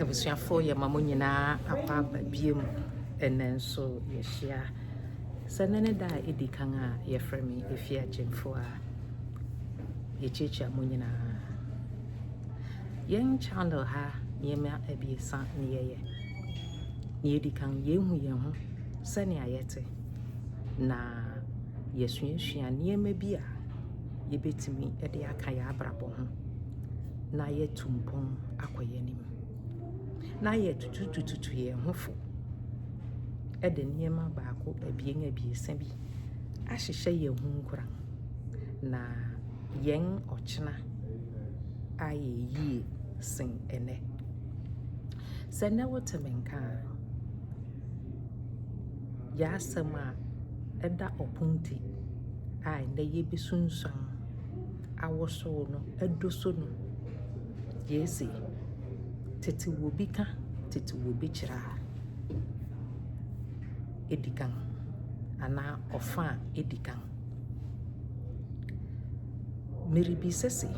abusuafoɔ yɛ ma mo nyinaa akɔ aba biom ɛnɛ nso yɛhyia sɛ ne ne da a ɛdi kan a yɛfrɛ me ɛfi agyemfoɔ a yɛkyiakyia mo nyinaa yɛn channel ha nneɛma abiɛsa ne yɛyɛ ne ɛdi kan yɛhu yɛn ho sɛnea yɛte na yɛsuasua nneɛma bi a yɛbɛtumi de aka yɛn abrabɔ ho na yɛatu mpɔn akɔ yɛn anim, na yɛatutututu yɛn ho fo de nneɛma baako, abien, abiɛsa bi ahyehyɛ yɛn ho nkuran, na yɛn ɔkyena ayɛ yie sen ɛnnɛ. Sɛ nnɛ wote me nka a, yɛn asɛm a ɛda ɔpon ti a nnɛ yɛbɛsunsuan. awosow no adoso no yesi tete wɔ bi ka tete wɔ bi kyerɛ a edi kan anaa ɔfã a edi kan. Miribisa se,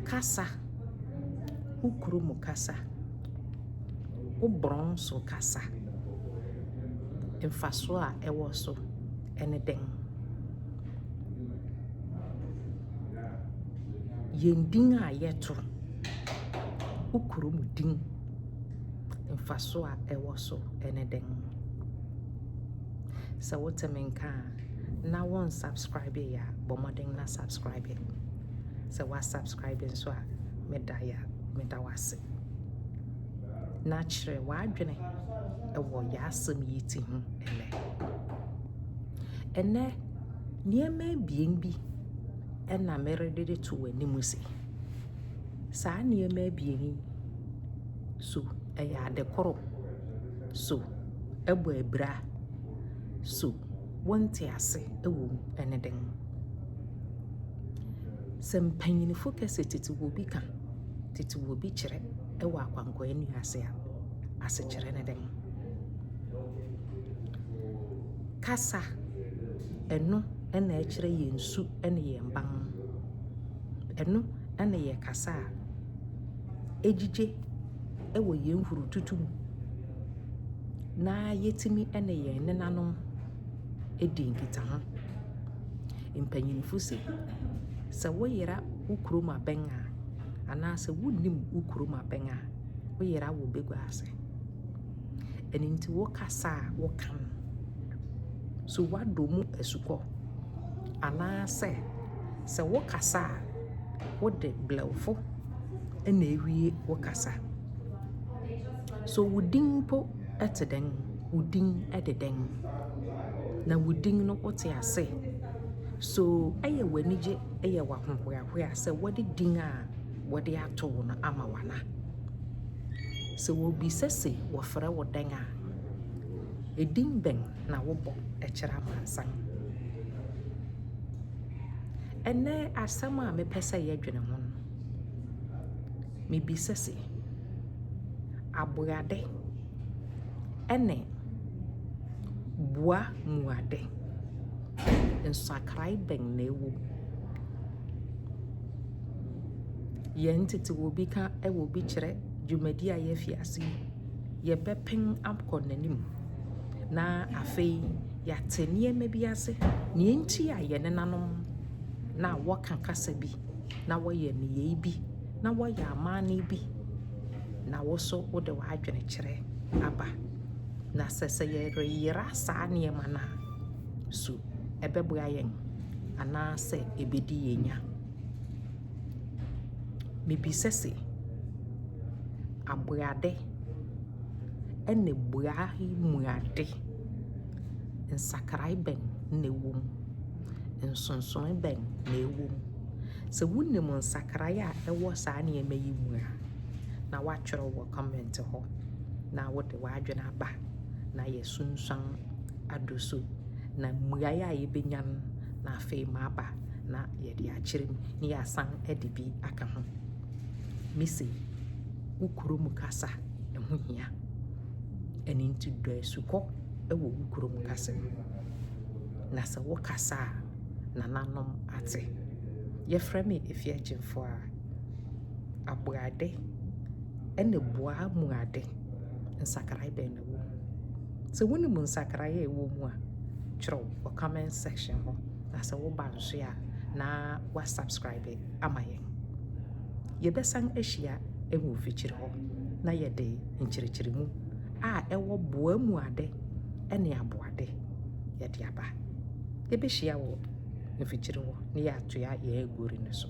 kasa, wo kurom kasa, wo borɔn so kasa, mfaso a ɛwɔ so ne dɛn? Yɛn din a yɛto, wo kurom din, mfaso a ɛwɔ so ne dɛn? Sɛ wote me nka a, na wo unsubscribe yɛ a, bɔ mmɔden na subscribe. Sɛ wa subscribe nso a, meda yɛ meda wo ase. Na kyerɛ w'adwene wɔ yɛasɛm yi ti ho ɛnɛ. Ɛnnɛ, nneɛma abien bi na merede de to w'anim se, saa nneɛma abien yi, so ɛyɛ ade koro? So ɛbɔ abira? So wonte ase wɔ mu? Ɛne dɛn? Sɛ mpanyinfo ka sɛ tete wɔ bi ka, tete wɔ bi kyerɛ wɔ akwankwaɛ nnuase a, asekyerɛ ne dɛn? Kasa, ɛno na ɛkyerɛ yɛn su ne yɛn ban. Ɛno na yɛ kasa a ɛgyigye wɔ yɛn hurututu mu na yɛtumi ne yɛn nenanom di nkitaho. Mpanyinfo se, sɛ woyera wo kurom abɛn a, anaasɛ wonnim wo kurom abɛn a, woyera wo bagua ase. Ɛno nti wo kasa a woka no, so woadɔ mu asukɔ? Anaasɛ sɛ wo kasa a, wode blɛwfo na ewie wo kasa? So wo din mpo te dɛn? Wo din de dɛn? Na wo din no wote ase? So ɛyɛ w'anigye, ɛyɛ w'ahohoahoa sɛ wode din a wɔde ato wo no ama wana. Sɛ wɔbisa se wɔfrɛ wo dɛn a, edin bɛn na wobɔ kyerɛ amansan? Ɛnnɛ asɛm a mepɛ sɛ yɛdwene ho no, mebisa se, aboade ne boa mu ade, nsakrae bɛn na ɛwɔ mu? Yɛn tete wɔ bi ka wɔ bi kyerɛ dwumadi a yɛafi ase yi, yɛbɛpem akɔ n'anim. Na afei yɛate nneɛma bi ase, nea enti a yɛn nenanom na wɔka kasa bi, na wɔyɛ nneyɛe bi, na wɔyɛ amanne bi, na wo nso wode w'adwene kyerɛ aba. Na sɛ sɛ yɛreyera saa nneɛma no a, so ɛbɛboa yɛn anaasɛ ɛbɛdi yɛn nya? Mebisa se, aboyade ne bua yi mu ade, nsakrae bɛn na ɛwɔ mu? Nsonsonoe bɛn na ɛwɔ mu? Sɛ wonim nsakrae a ɛwɔ saa nneɛma yi mu a, na woatwerɛ wɔ comment hɔ na wode w'adwene aba na yɛasunsuan ado so. Na mmuaeɛ a yɛbɛnya no, na afei maba. na yɛde akyerɛ mu na yɛasan de bi aka ho. Mise wo kurom kasa ɛho hia. Ɛno nti dɔ asukɔ wɔ wo kurom kasa mu. Na sɛ wo kasa a nananom ate. Yɛfrɛ me Efi Agyemfo a aboade ɛna bua mu ade nsakrae bɛn na Sɛ wonim nsakraeɛ a ɛwɔ mu a, twerɛ wɔ comment section hɔ. Na sɛ woba nso a, na wa subscribe ama yɛn. Yɛbɛsan ahyia wɔ mfikyiri hɔ na yɛde nkyerɛkyerɛmu a ɛwɔ boa mu ade ne aboade yɛde aba. Yɛbɛhyia wɔ mfikyiri hɔ na yɛatoa yɛn agori no so.